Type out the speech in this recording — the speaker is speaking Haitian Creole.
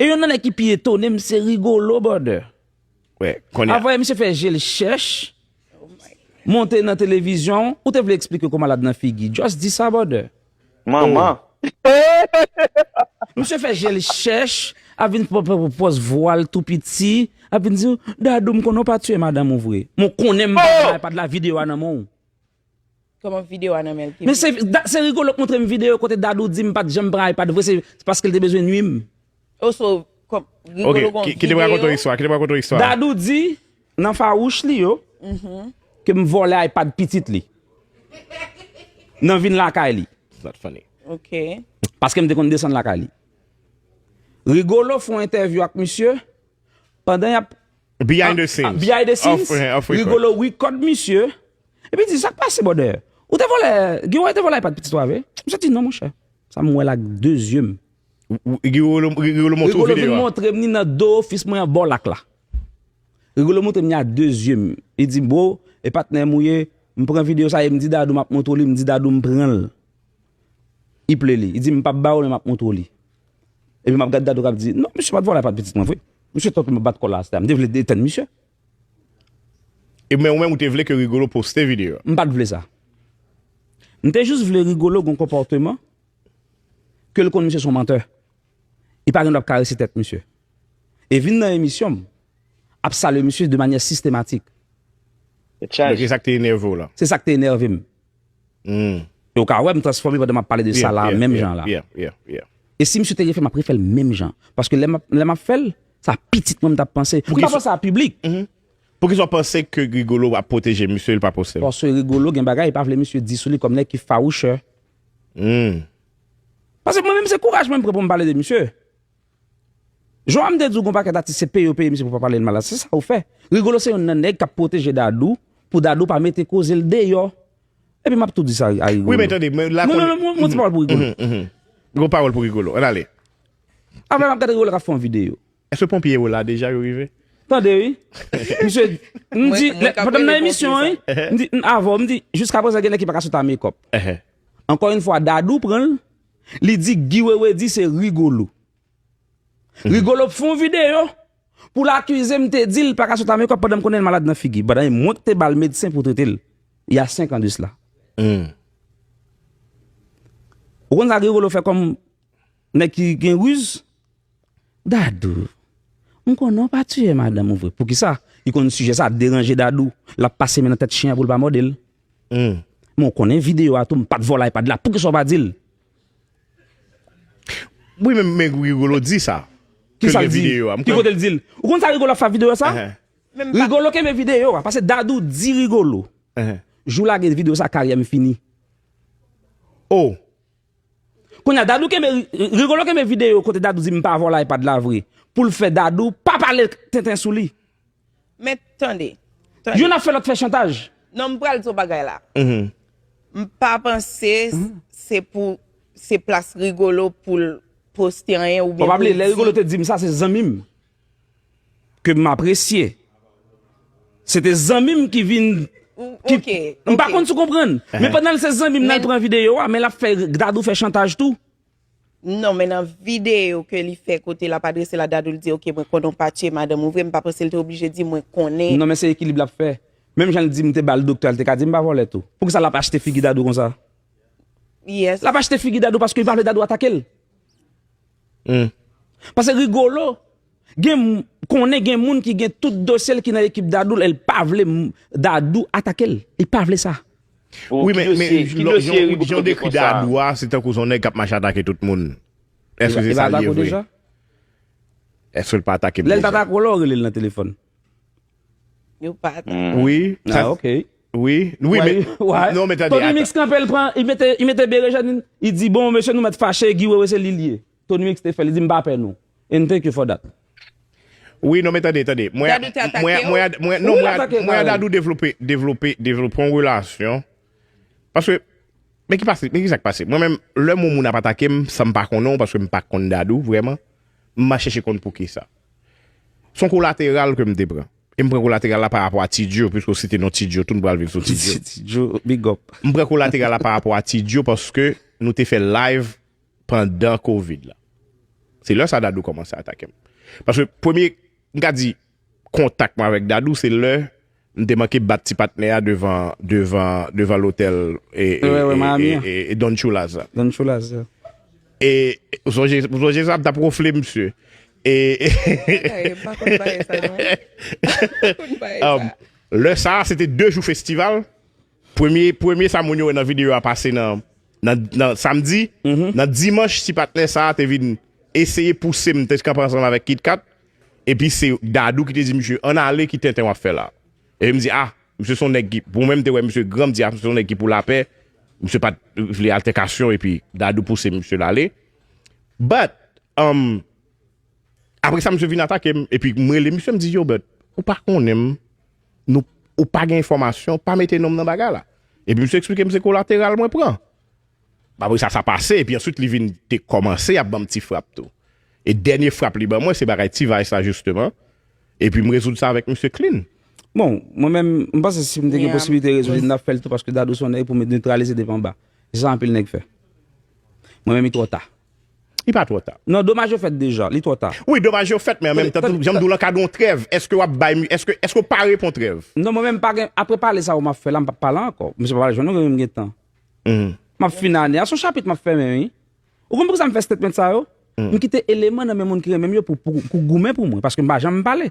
E yon nan nèg ki pi etone m se Rigolo Border. A voye misye fè je l chèch, monte nan televizyon, ou te vle eksplike kou malad nan figi. Just di sa Border. Manman! Misye fè je l chèch, ap vin pòs vwa l tou piti, ap vin di, Dadou m konnen w pa tiye madanm ou vre. Mwen konnen m pa gen iPad la, videyo a nan men w. Men se Rigolo k montre m video kote Dadou di m pat janm pran iPad vre se paske l te bezwen nwi m. Dadou di nan fawouch li yo ke m vòlè iPad pitit li nan vin lakay li. Paske m te konn desann lakay li. Rigolo fon entèvyou ak misye. pandan yap Behind the scenes ah behind the scenes off, off Rigolo record misye Epi di sak pase bòdè Ou te vòlè Giwo te vòlè iPad pitit ou a vre Misye di non monchè Sa m wè l ak de zye m Rigolo Rigolo montre w video a Rigolo vin montre m ni nan do ofis mwen an bò lak la Rigolo montre m ni a de zye m Li di bro e patnè m ou ye M pran video sa e m di Dadou m ap montre w li m di Dadou m pran l I ple li, i di m pap ba w li m ap montre w li. Epi m ap gad gad ou k ap di, non misye pa t vòlè pa t pitit mwen vre. Misye tankou m ap bat kò l la a, m te vle etenn misye. E men ou menm ou te vle ke Rigolo poste video a? M pa t vle sa. M te jis vle Rigolo gen yon konpòteman ke l konn misye se yon mantè. Li pa gen dwa ap karese tèt misye. E vin nan emisyon m ap salye misye de manyè sistematik. Tèt chaje. Se sa k te enève w la? Se sa k te enève m. Humm. E ou ka wè m transfòme pandan m ap pale de sa la a menm jan an la. Yeah, yeah, yeah, yeah. E si misye te refè m ap refè l menm jan. Paske lè m ap fè l, sa pitit mwen m t ap panse. Pou ki sa. M pa panse a piblik. Pou ki sa ou panse ke Rigolo ap pwoteje misye, li pa poste l? Paske Rigolo gen bagay li pa vle misye di sou li kòm nèg ki fawouchè. Humm. Paske mwen menm se kouraj mwen m pran pou m pale de misye. Joam te di w gon pakèt atis se peye yo peye misye pou pa pale l mal la se sa ou fè Rigolo se yonn nan nèg kap pwoteje Dadou pou Dadou pa mete koze l deyò epi map tou di sa a Rigolo wi men tande mwen la konnen non non yon ti pawòl pou Rigolo yon ti pawòl pou Rigolo ann ale aprè map gad Rigolo kap fè yon videyo èske ponpye yo la deja yo rive tande wi misye m di pandan m nan emisyon an wi m avè w m di jiskaprezan gen nèg ki paka sot a mekòp ankò yon fwa Dadou pran l. Li di Guy wewe di se Rigolo. Rigolo fè yon video pou l akize m te di l pa ka sot a mekòp pandan m konnen l malad nan figi, pandan e mwen ki te ba l medsen pou trete l y a 5 an de sla. Ou konn sa Rigolo fè kòm nèg ki gen riz? Dadou m konnen w pa tiye madanm ou vre poukisa li konn sijè sa deranje Dadou lap pase men nan tèt chyen an pou l pa mòde l men w konnen videyo a tou m pat vòlò ipad la poukisa w pa di l Wi men Rigolo di sa ke l gen videyo a Ki kote l di l Ou konn sa Rigolo ap fè ak videyo sa Rigolo kenbe videyo a pase Dadou di Rigolo jou w lage videyo sa karyè m fini Oh Kounya Dadou kenbe Rigolo kenbe video kote Dadou di mpa vòlò iPad la vre poul fè Dadou pa pale tenten sou li. Men tande. Youn ap fè lòt fè chantaj. Non m pral di w bagay la. M pa panse se pou se plas Rigolo poul poste anyen oubyen poul di. Pabali lè Rigolo te di m sa se zanmi m. ke m apresye. Se te zanmi m ki vin. Ok. M pa konn si w konprann. Men pandan l se zanmi m nan pran videyo a, men l ap fè Dadou fè chantaj tou. Non, men nan videyo ke li fè kote l ap adrese l a Dadou, li di ok mwen konnen w pa tiye madanm ou vre, m pa panse l te oblije di mwen konnen. Non men se ekilib l ap fè. Menm jan l di m te ba l doktè a, l te ka di m pa vòlè tou. Poukisa l ap achte figi Dadou konsa? Yes. L ap achte figi Dadou paske li pa vle Dadou atake l. Humm. Pase Rigolo gen m konnen gen moun ki gen tout dosye l ki nan ekip Dadou l el pa vle Dadou atake l. Li pa vle sa. Wi men jan w dekri Dadou a se tankou son nèg kap mache atake tout moun. Eske se sa l ye vre? Eske l pa atake m deja? Lè l t atake w la w rele l nan telefòn? Yo pa ta. Mm. Wi. Ah, Sa- ok. Wi. Wi, men. Why? Non, men tande, Tony ata. Mix kanpe, l pran, li mete, li mete berejèn, li di bon mesye nou mèt fache, Guy Wewe se li l ye. Tony Mix te fè, li di m pa pè nou. And thank you for that. Wi, non, men tande, tande. Mwen, Dadou te atake mwen, yo? mwen, ad- mwen, non, Ou mwen, ad- atake mwen Carel? adadou devlope, devlope, devlope yon relasyon. Paske, men ki pase, men ki sak pase. Mwen menm, lè moun moun ap atake m, san m pa konnen w, paske m pa konn dadou, vreman, m ma chèche konn pou ki sa. Son kolateral ke m te pran. E m pran kolateral la pa rapò a T-Djo, piske ou site non T-Djo tou, nou pral vin sou T-Djo. T-Djo, big up. M pran kolateral la pa rapò a T-Djo paske nou te fè live pandan Covid la. Se lè sa Dadou kòmanse atake m. Paske premye, m ka di, kontak mwen avèk Dadou se lè M te manke bat ti patnè a devan devan devan lotèl e e Don Tchoulaz la. Don Tchoulaz la. E ou sonje ou sonje sa m tap wonfle misye. E e m pa konn bagay sa non. Lè sa se te 2 jou festival. Premye premye sa moun yo wè nan videyo a pase nan nan samdi, nan dimanch ti patnè sa te vin eseye pouse m te kanpe ansanm avèk KitKat epi se Dadou ki te di misye ann ale ki tenten wap fè la epi m di ah misye son nèg ki mwen menm m te wè misye gran m di ah misye son nèg ki pou lapè misye pat vle altèkasyon epi Dadou pouse misye l ale but umm apresa misye vin atake m epi m rele misye m di yo but ou pa konnen m Nou ou pa gen enfòmasyon, pa mete non m nan bagay la. Epi misye eksplike m se kolateral mwen pran. Apre sa sa pase, epi answit li vin te kòmanse ap ban m ti frap tou. E dènye frap li ban mwen se bagay T-Vice la jisteman, epi m rezoud sa avèk misye klin. Bon, mwen menm, m panse si m te gen posiblite rezoud li, m t ap fè l tou paske Dadou s on nèg pou netralize depi anba. Se sa anpil nèg fè. Mwen menm li twò ta. Li pa twò ta. Non, domaj yo fèt deja. Li twò ta. Wi, domaj yo fèt, men an menm tan tou, jan m di w lan ka gen yon trèv. Èske w ap bay, èske, èske w pare pou yon trèv? Non, mwen menm m pa gen, apre pale sa yo m ap fè la, m p ap pale ankò. Misye pa pral jwenn nou, men m gen tan. M ap fini ane a. Se yon chapit m ap fèmen, wi. Ou konn poukisa m fè statement sa yo? M kite eleman nan men moun ki renmen m yo pou, pou goumen pou mwen, paske m pa janm pale.